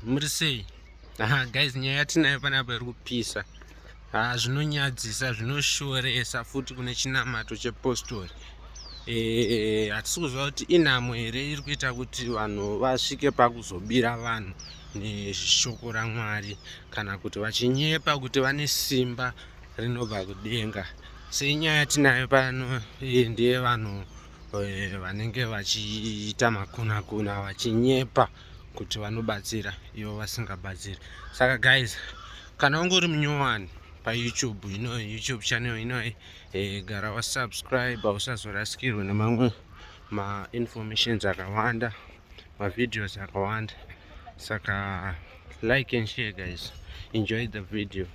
muri sei aha guys nyaya yatinayo panapa iri kupisa haa zvinonyadzisa zvinoshoresa futi kune chinamato chepostori eh, hatisi kuziva kuti inhamo here iri kuita kuti vanhu vasvike pakuzobira vanhu neshoko ramwari kana kuti vachinyepa kuti vane simba rinobva kudenga senyaya yatinayo pano eh, ndeye vanhu eh, vanenge vachiita makunakuna vachinyepa e, kuti vanobatsira ivo vasingabatsiri saka guys kana unge uri munyowani payoutube ino youtube channel inoyi e, eh, gara wasubscribe usazorasikirwe nemamwe mainformations akawanda mavideos akawanda saka like and share guys enjoy the video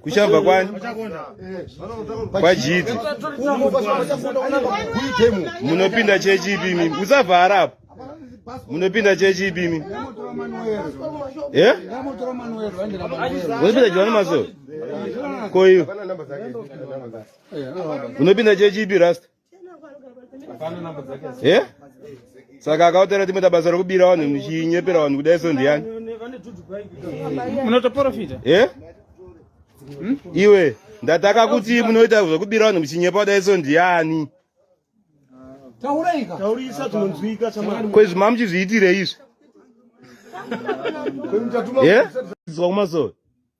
kuchabva kwani kwajidzi munopinda chechi ipimi musavhara apo munopinda chechi ipimi unopinda johani maso koiyo unopinda chechi ipi rasta Eh? Saka akautera timwe tabasa rekubira vanhu muchinyepera vanhu kudai so ndiyani? Munotoprofita? Eh? Hmm? Iwe ndataka kuti munoita zvekubira vanhu muchinyepa kudai so ndiyani? Tauraika. Taurisa tunonzwika chamani. Kwezvi mamuchizviitire izvi? Eh? Zvakumasowe.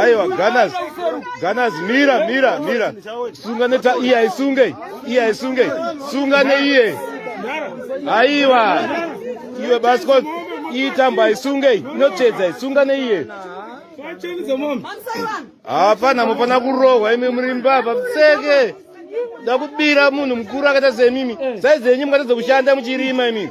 Aiwa Gunners Gunners mira mira mira sunga neta iye aisunge iye aisunge sunga neiye aiwa iwe basikot iitamba aisunge inotsvedza isunga neiye hapana mufana kurohwa imi muri mbavha pfeke da kubira munhu mukuru akaita semimi sai dzenyu mukatadza kushanda muchirima imimi